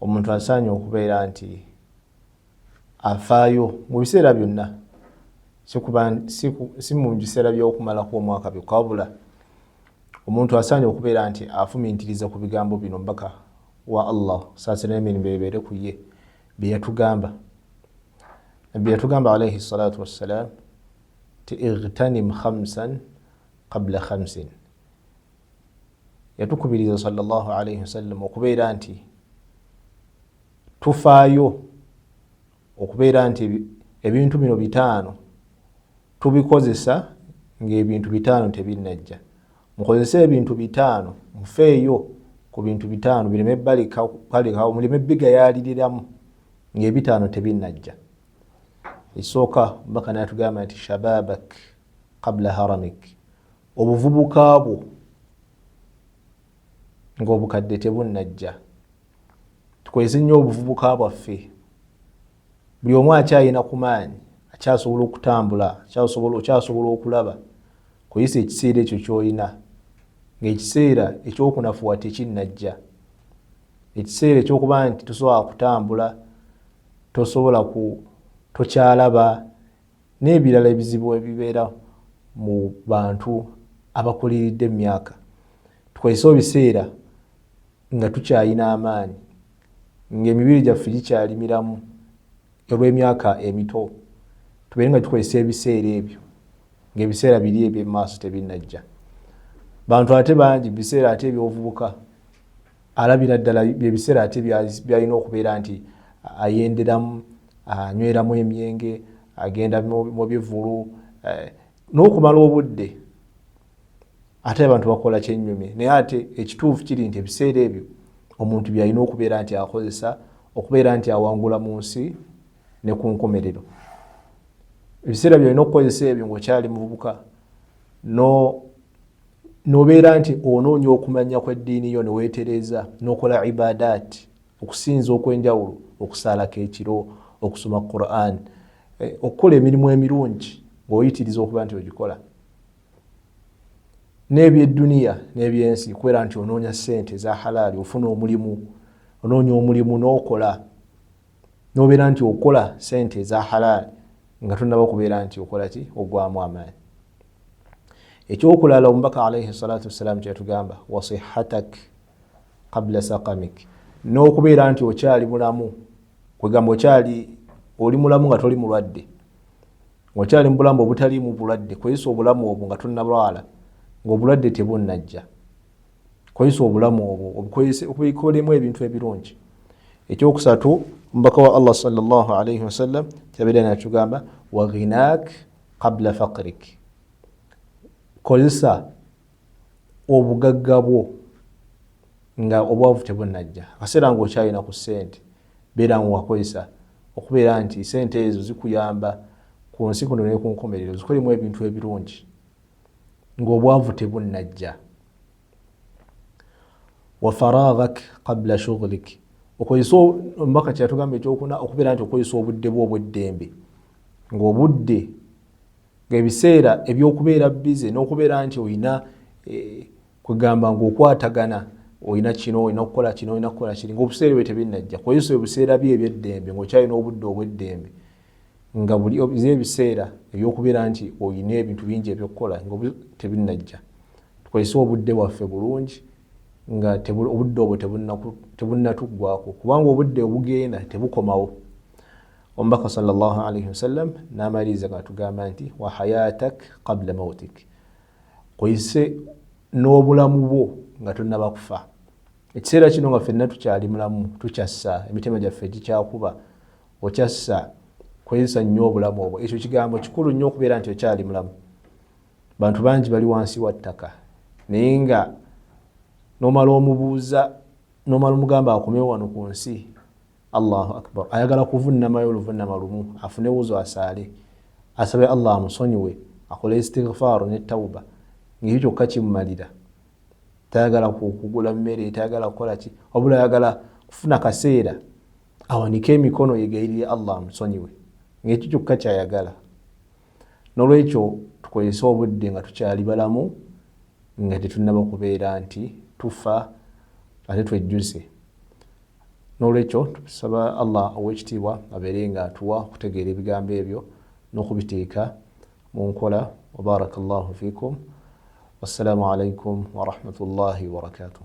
omuntu asaanye okubeera nti afaayo mu biseera byonna si mu biseera by'okumalako omwaka byokka wabula omuntu asaanye okubeera nti afumintiriza ku bigambo bino mbaka wa allah saasira emirimu ebeere ku ye bye yatugamba nabbi yatugamba alaihi salatu wassalam ti igtanim khamsan qabla khamsin yatukubiriza salllah alaihi wasallam okubeera nti tufaayo okubeera nti ebintu bino bitaano tubikozesa ngaebintu bitaano tebinajja mukozese ebintu bitaano mufeeyo ku bintu bitaano bireme balekawo muleme bigayaliriramu ngaebitaano tebinajja esooka mbaka natugamba nti shababak kabla haramik obuvubuka bwo ng'obukadde tebunnajja tukozese nnyo obuvubuka bwaffe buli omu akyalina ku maanyi akyasobola okutambula okyasobola okulaba koyisa ekiseera ekyo kyolina ngaekiseera ekyokunafuwa tekinnajja ekiseera ekyokuba nti tosobola kutambula tosobola tokyalaba n'ebirala ebizibu ebibeera mu bantu abakuliridde emyaka tukozese ebiseera nga tukyalina amaanyi ng'emibiri gyaffe gikyali miramu olw'emyaka emito tubeere nga tukozesa ebiseera ebyo ng'ebiseera biri eby'emaaso tebinnajja bantu ate bangi biseera ate ebyobuvubuka alabira ddala byebiseera ate byalina okubeera nti ayenderamu anyweramu emyenge agenda mu bivulu eh, n'okumala obudde ate abantu bakola kyenyumye naye ate ekituufu kiri nti ebiseera ebyo omuntu byalina okubeera nti akozesa okubeera nti awangula mu nsi ne ku nkomerero ebiseera byalina okukozesa ebyo ngaokyali mububuka no nobeera nti onoonya okumanya kweddiini yo neweetereeza nokola ibadaati okusinza okwenjawulo okusaalako ekiro okusoma quran eh, okukola emirimu emirungi ngaoyitiriza okuba nti ogikola n'ebyedduniya n'ebyensi kubeera nti onoonya sente eza halaali ofuna omulimu onoonya omulimu n'okola nobeera nti okola sente eza halaali nga tonaba okubeera nti okola ki ogwamu amaanyi ekyokulala omubaka alaihi salatu wassalamu kyeyatugamba wasihatak qabla sakamik n'okubeera nti okyali mulamu kwegamba okyali oli mulamu nga toli mulwadde okyali mubulamu obutaliimu bulwadde kweyisa obulamu obwo nga tonalwala ngaobulwadde tebunnajja kozesa obulamu obwo obukolemu ebintu ebirungi ekyokusatu omubaka wa allah salllah alaihi wasallam kyabeera natugamba waghinak qabla fakrik kozesa obugagga bwo nga obwavu tebunajja akaseera nga okyalina ku sente beera nga wakozesa okubeera nti sente ezo zikuyamba ku nsi kuno nekunkomerero zikolemu ebintu ebirungi ng'obwavu tebunnajja wafaraghak qabla shughlik okozesa omubaka kyeyatugamba ekyokuna okubeera nti okozesa obudde bwo obweddembe ngaobudde ngaebiseera ebyokubeera bize nokubeera nti olina eh, kwegamba ngaokwatagana olina kino olina kukola kino olina kukola kiri ngaobuseera ebyo tebinnajja kozesa ebiseera byo ebyeddembe ngaokyalina obudde obweddembe nga buli obize ebiseera ebyokubeera nti olina ebintu bingi ebyokukola nga tebinnajja tukozese obudde bwaffe bulungi nga obudde obwo tebunnatuggwako kubanga obudde obugenda tebukomawo omubaka salllahalaihi wasallam namaliriza gatugamba nti wahayatak kabla mautik kozese n'obulamu bwo nga tonnaba kufa ekiseera kino nga fenna tukyali mulamu tukyassa emitima gyaffe gikyakuba okyassa kwezisa nnyo obulamu obwo ekyo kigambo kikulu nnyo okubeera nti okyali mulamu bantu bangi bali wansi wa ttaka naye nga nomala omubuuza nomala omugamba akomewo wano ku nsi allahu akbar ayagala kuvunnamayo oluvunama lumu afune wuzo asaale asabe allah amusonyiwe akole istighfaaru ne tawuba ngaekyo kyokka kimumalira tayagala kugula mmere tayagala kukola ki wabula ayagala kufuna kaseera awanike emikono yegayirire allah amusonyiwe ngaekyo kyokka kyayagala nolwekyo tukozese obudde nga tukyali balamu nga tetunaba kubeera nti tufa ate twejjuze nolwekyo tusaba allah owekitiibwa abeere nga atuwa okutegeera ebigambo ebyo nokubiteeka mu nkola wabaraka llahu fikum wassalamu alaikum warahmatullahi wabarakatuh